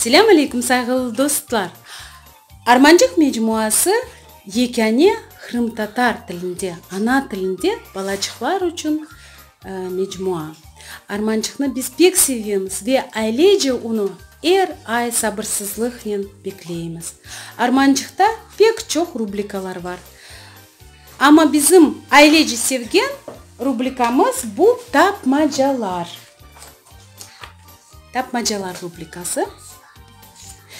Selâm aleykum sayğılı dostlar! Armancıq mecmuası yekâne qırımtatar tilinde, ana tilinde balaçıqlar içün Mecmua. Armançıqnı biz pek sevemiz ve ailece unı er ay sabırsızlıqnen bekleymiz. Armançıqta pek çoq rubrikalar bar. Amma bizim ailece sevgen rubrikamız bu tapmacalar. Tapmacalar rubrikası.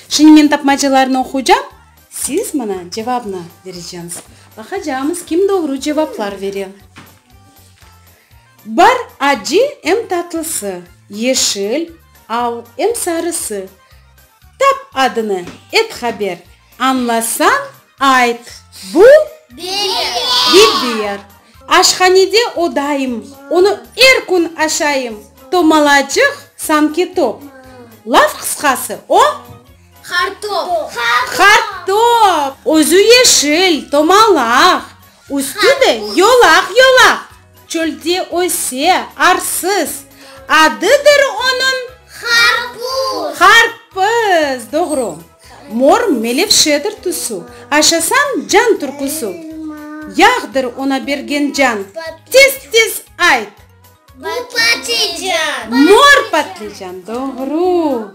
Şimdi men tapmacalarnı oquycam, siz mına cevabnı bereceñiz. Baqacağımız kim doğru cevaplar bere. Bar acı em tatlısı, yeşil, al em sarısı. Tap adını, et haber, añlasañ ayt, bu, Biber. Aşhanede o daim, onı er kün aşayım, tomalacıq, sanki top. Laf qısqası, o, Qartop. Qartop. Özü yeşil, tomalaq. Üstü de yolaq-yolaq, çölde öse, arsız. Adıdır onıñ? Qarpuz. Qarpız, doğru. Mor melevşedir tüsü. Aşasañ can türküsü. Yağdır ona bergen can. Tez-tez ayt! Bu patlıcan. Mor patlıcan, doğru.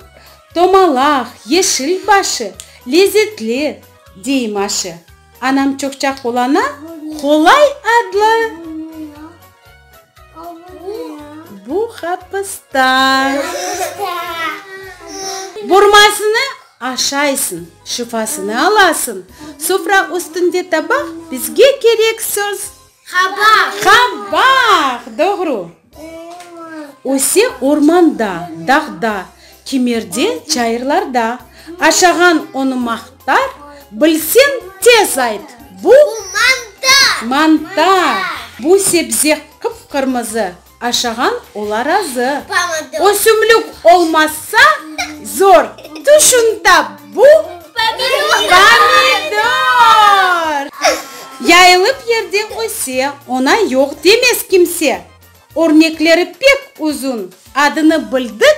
Tomalaq, yeşil başı, lezetli. dey Maşe. Anam çoqça qulana, Qolay adlı bu hapısta. Burmasını aşaysıñ, şifasını alasıñ. Sufra üstünde tabaq, bizge kerek söz, Qabaq. Qabaq! Doğru. Öse ormanda, dağda, kimerde, çayırlarda. Aşağan onı maqtar, bilseñ, tez ayt, bu? Bu mantar! Mantar! Bu sebze qıp-qırmızı. Aşağan ola razı. O sümlük olmazsa, zor. Tüşünta bu pomidor. Yayılıp yerde öse, ona yoq demez kimse. Örnekleri pek uzun, adını bildik.